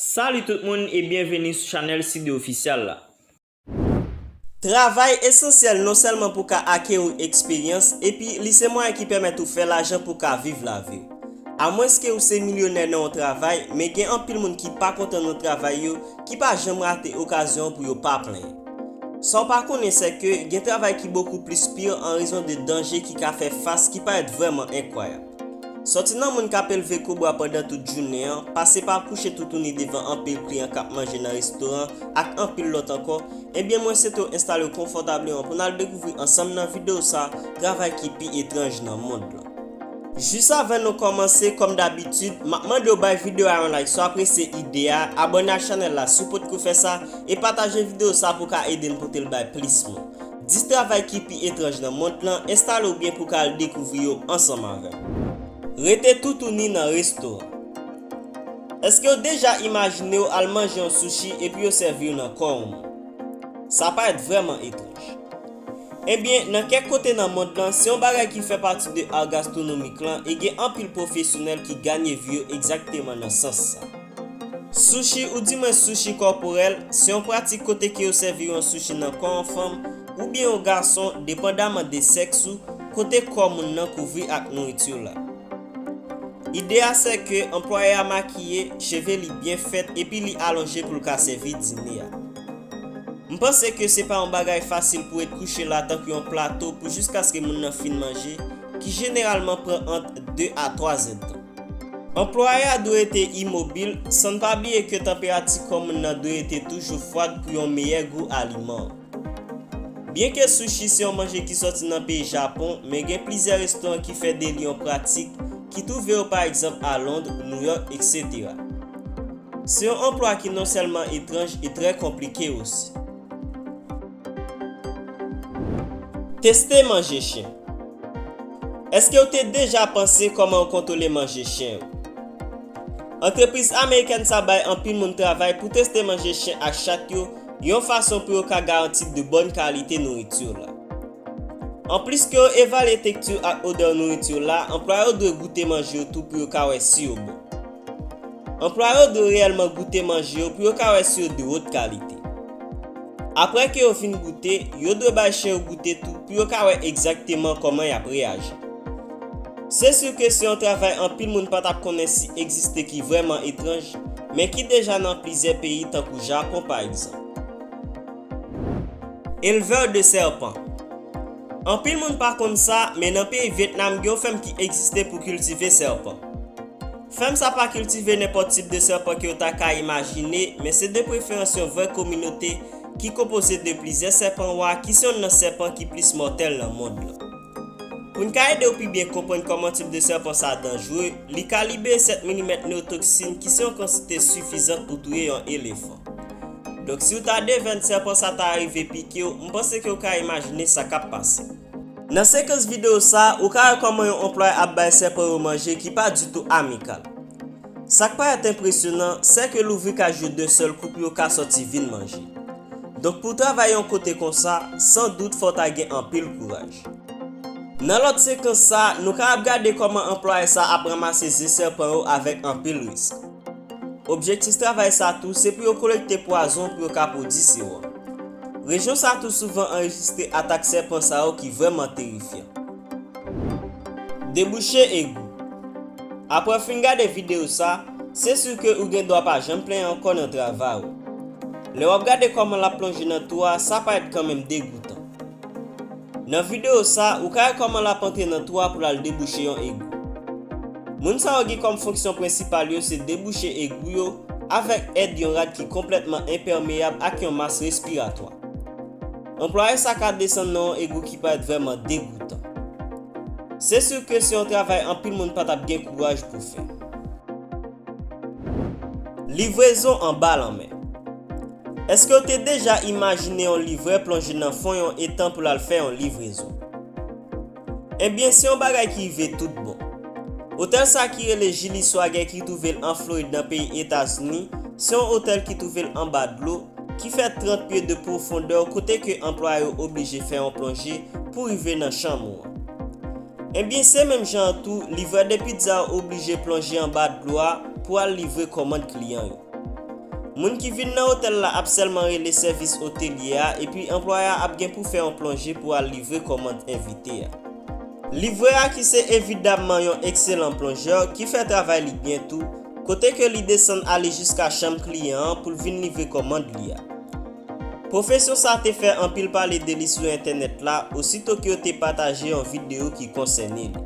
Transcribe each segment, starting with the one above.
Salut tout moun e byenveni sou chanèl Sidde Official la. Travay esansyèl non sèlman pou ka akeri eksperyans epi li se mwayen ki pèmèt ou fè lajan pou ka viv laviw. Amwenske ou se milyonè nan yon travay, men gen anpil moun ki pa kontan nan travay yo ki pa janm rate okazyon pou yo pa plenyen. Sa w pa konnen sè ke gen travay ki bokou plis pir an rezon de danje ki ka fè fas ki parèt vrèman enkwayab. Sòti nan moun k ap elve kobra pandan tout jounen an, pase pa kouche toutouni devan anpil kliyan k ap manje nan restoran ak anpil lòt ankò, ebyen mwen swete w enstale w konfòtableman pou n al dekouvri ansanm nan videyo sa travay ki pi etranj nan mond lan. Jis avan nou kòmanse kòm dabitid map mandew bay video a yon like si w apresye ide a, abòne ak chanèl la si w potko fè sa, e pataje video sa pou w ka ede n pote l bay plis moun. 10 travay ki pi etranj nan mond lan, enstale w byen pou w ka al dekouvri yo ansanm avè m. Rete toutouni nan resto an. Eske w deja imajine w al manje yon sushi epi yo sèvi w nan kò yon moun? Sa parèt vrèman etranj. Ebyen, nan kèk kote nan mond lan, se yon bagay ki fè pati de ar gastronomik lan e gen anpil pwofesyonèl ki ganye vi yo egzakteman nan sans sa. Sushi ou di mwen sushi kòporèl, se yon pratik kote ke yo sèvi yon sushi nan kò yon fanm oubyen yon gason depandaman de sèks ou kote kò moun nan kouvri ak nouritur la. Ide a sè ke anplwaye a makiye, cheve li byen fèt epi li alonje pou l ka sèvi dine a. M panse ke se pa yon bagay fasil pou ret kouche la tankou yon plato pou jiskaske moun nan fin manje, ki jeneralman pran ant 2 a 3 zèdtan. Anplwaye a dwe rete imobil, san n pa bliye ke tanperati kò moun nan dwe rete toujou fwad pou yon meyè gou aliman an. Byenke sushi se yon manje ki sòti nan peyi Japon, men gen plizyè restoran ki fè de li yon pratik, ki twouve yo pa egzanp a Lond, Nouyòk, eksetera. Se yon anplwa ki non sèlman etranj e trè konplike osi. Teste manje chen. Èske ou te deja panse kòman ou kontwole manje chen ou? Antrepriz amerikèn sa bay anpil moun travay pou teste manje chen ak chat yo yon fason pou yo ka garanti de bòn kalite nouriti w la. Anplis ke yo evalye tekti ak odè nouriti w la, anplwaye yo dwe goute manje yo tou pou yo ka wè si yo bon. Anplwaye yo dwe reyèlman goute manje yo pou yo ka wè si yo de wot kalite. Apre ke yo fin goute, yo dwe bay chen yo goute tou pou yo ka wè egzakteman kòman y ap reyaji. Se sur ke se yon travay anpil moun pa t ap konnen si egziste ki vrèman etranj, men ki deja nan plizyè peyi tankou Japon pa egzanp. Elvè de sèpan. Anpil moun pa konn sa, men nan peyi Vyetnam gen yon fèm ki egziste pou kiltive sèpan. Fèm sa pa kiltive nenpòt tip de sèpan ke yo ta ka imajine, men se de preferans yon vrè kominote ki konpoze de plizyè sèpan wa ki se yonn nan sèpan ki plis mòtèl nan mond lan. Pou n ka ede w pi byen konprann kòman tip de sèpan sa danjre, li kalibe 7 milimèt neotoksin ki se yon kantite sifizant pou touye yon elefan. Donk si w ta devèn sèpan sa ta arive pike w, m panse ke w ka imajine sa k ap pase. Nan sekans videyo sa a, ou ka wè kòman yon anplwaye ap bay sèpan yo manje ki pa ditou amikal. Sa k parèt enpresyonan, sè ke louvri kaj yo dèn sèl kou pou yo ka sòti vin manje. Donk pou w travay yon kote konsa, san dout fò w ta gen anpil kouraj. Nan lòt sekans sa a, nou ka ap gade kòman anplwaye sa a ap ranmase ze sèpan yo avèk anpil risk. Objektif travay sa a tou se pou yo kolekte pwazon pou yo ka pwodi sewòm. Rejyon sa a tou souvan anrejistre atak sèpan sa yo ki vrèman terifyan. Debouche egou. Apre w fin gade videyo sa, se sur ke ou gen dwa pa janm plenyen ankò nan travay ou. Lè w ap gade kòman l ap plonje nan twou a sa parèt kanmenm degoutan. Nan videyo sa, ou ka wè kòman lap antre nan twou a pou lal debouche yon egou. Moun sa yo gen kòm fonksyon prensipal yo se debouche egou yo avèk èd yon rad ki konplètman enpèmeyab ak yon mas respiratwa. Anplwaye sa ka desann nan yon egou ki parèt vrèman degoutan. Se sur ke se yon travay anpil moun patap gen kouraj pou fè. Livrezon anba lanmè Èske w te deja imajine yon livrè plonje nan fon yon etan pou l al fè yon livrezon? Enben, se yon bagay ki rive toutbon. Otèl sa ki rele Gilly Swagger ki twouve l an Florid nan peyi Etazini, se yon otèl ki twouve l anba dlo, ki fè 30 pye de pwofondè kote ke anplwaye yo oblije fè yon plonje pou rive nan chanm ou an. Ebyen se menm jan an tou livrè de pizza oblije plonje anba dlo a pou al livre kòmand kliyan yo. Moun ki vin nan otèl la ap sèlman rele sèvis otelye a epi anplwaye a ap gen pou fè yon plonje pou al livre kòmand envite a. Livrè a ki se evidamman yon ekselan plonjè ki fè travay li byen tou, kote ke li desann ale jiska chanm kliyan an pou l vin livre kòmand li a. Pwofesè sa te fè anpil pale de li sou entènèt la osito ke yo te pataje yon videyo ki konsène li.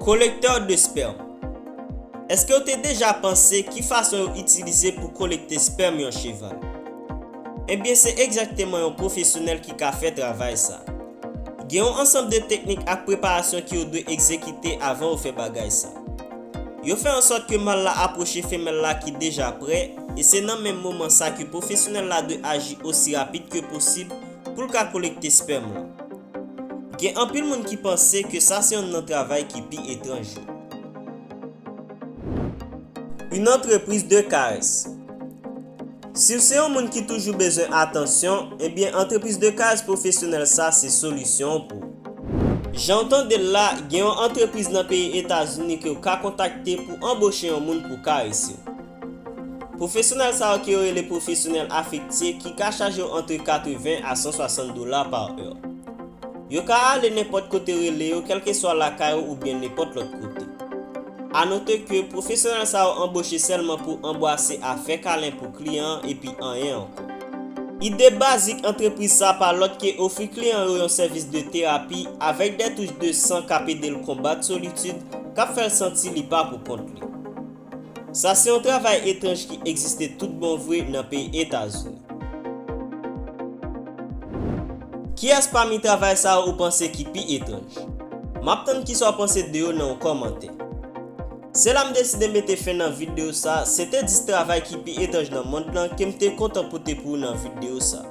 Kolektè de spèm. Eske w te deja panse ki fason yo itilize pou kolekte spèm yon cheval? Ebyen se egzakteman yon pwofesyonèl ki ka fè travay sa. Gen yon ansanm de teknik ak preparasyon ke yo dwe egzekite avan yo fè bagay sa. Yo fè ansòt ke mal la apwoche femèl la ki deja prè, e se nan menm moman sa ke pwofesyonèl la dwe aji osi rapid ke posib pou l ka kolekte spèm lan. Gen anpil moun ki panse ke sa se youn nan travay ki pi etranj yo. Une entreprise de caresse. Si w se yon moun ki toujou bezwen atansyon, ebyen antrepriz de kay pwofesyonèl sa se solisyon w pou. Jan w tande l la, gen yon antrepriz nan peyi Etazini ke w ka kontakte pou anboche yon moun pou karese w. Pwofesyonèl sa yo ke yo rele pwofesyonèl afektye ki ka chaje w antre 80 a 160 dola pa è. Yo ka ale nenpòt kote rele yo kèlkeswa lakay ou oubyen nenpòt lòt kote. A note ke pwofesyonèl sa yo anboche sèlman pou anbwase a fè kalen pou kliyan an epi anyen ankò. Ide bazik antrepriz sa pa lòt ke ofri kliyan yo yon sèvis de terapi avèk dè touch de san k ap ede l konbat solitid k ap fè l santi li pa pou kont li. Sa se yon travay etranj ki egziste tout bon vre nan peyi Etazini. Kiyès pami travay sa yo ou panse ki pi etranj? M ap tann kisa w panse de yo nan yon kòmantè. Se la m deside mete fen nan videyo sa, se te 10 travay ki pi etranj nan mond lan ke m te kontan pote pou ou nan videyo sa.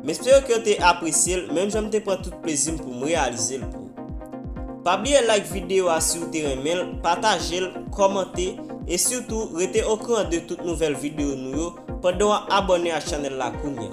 M espere ke w te apresye l menm jan m te pran tout plezi m pou m reyalize l pou ou. Pa bliye like videyo a si w te renmen l, pataje l, kòmante, e sitou rete okouran de tout nouvèl videyo nou yo pandan w ap abòne ak chanèl la kounya.